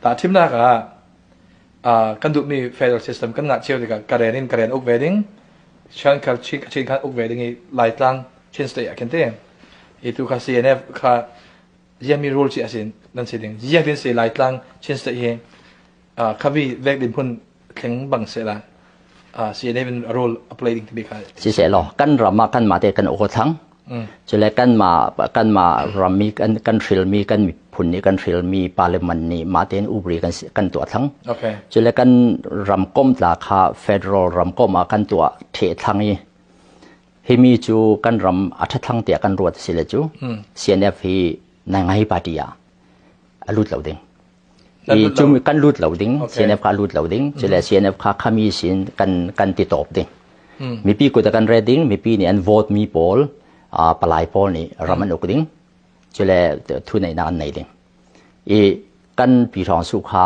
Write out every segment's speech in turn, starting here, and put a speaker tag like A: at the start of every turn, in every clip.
A: Tahthimnak ah kan duhmi federal system kan ngah cio tikah karen in karen uk ve ding Shankar Chin khat uk ve ding i Laitlang Chin state ah khin te i tu kha CNF kha ziami rule ci asin nan si ding ziak din si Laitlang Chin state hi khavi vek din phun thleng bang se la CNM a role a play ding ti ka si se lo kan ram
B: ma kan ma te kan o thang chule kan ma kan ma ram mi kan kan hril mi kan mi phun ni kan hril mi parliament ni ma ten ubri kan kan tua thang okay chule kan ram kom tla kha federal ram kom a kan tua the thang i himi chu kan ram a tha thang tia kan ruat sile chu CNF hi nai ngai party a alut lo ding i cung kan lut lo ding CNF kha lut lo ding cule CNF kha khami sin kan kan ti top ding mipi kut kan red ding mipi nih an vote mi pawl palai pawl nih ram an uk ding cule thu neih nak an nei ding i kan pi hrang su kha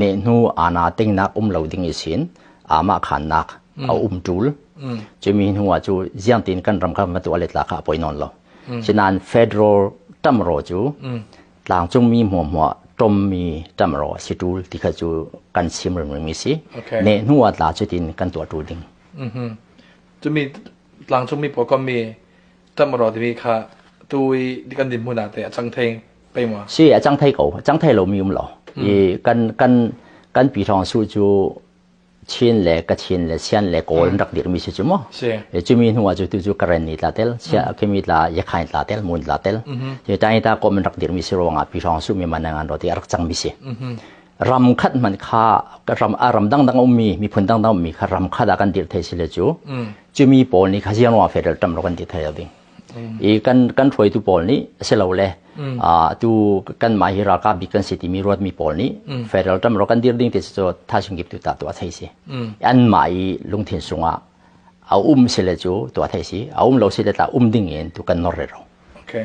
B: nehnu aana tingnak um lo ding i sin amah khannak a um ṭul cumi hnuah cu ziangtin kan ram kha matu alet la kha a poi nawn lo sinain federal ṭamro cu tlangcungmi hmuahhmuah ṭommi ṭamro a si ṭul ti kha cu kan sim ringring i si ne hnuah tla cutin kan tuah ṭu ding
A: cumi tlangcungmi pawkommi tam rawh timi kha tu i kan dinhmun ah teh a cang thei pei maw? Si a cang thei ko a cang thei lomi um lo i kan kan kan pi thawng su cu chin le kachin le sian le kawl an rak dirmi si cu maw cumi hnu ah
B: cu tu cu karen ni tla tel sia khemi tla yakhain tla tel mun tla tel cu tani ta kom an rak dirmi si ruangah pi thawng su mi man ngan ro ti a rak cangmi si ram khat man kha ram a ram dangdang ummi miphun dangdang ummi kha ram khat ah kan dir thei sile cu cumi pawl nih khaziang ruang federal tam ro kan ti thai lo ding i kan kan hruaitu pawl nih silole tu kan mah hi ralkap bik kan si timi ruatmi pawl nih federal tam ro kan dir ding ti cu thasing kip tu ta tu a thei si an mah i lungthin sungah a um sile cu tu a thei si a um lo sile ta um ding in tu kan nor re ro okay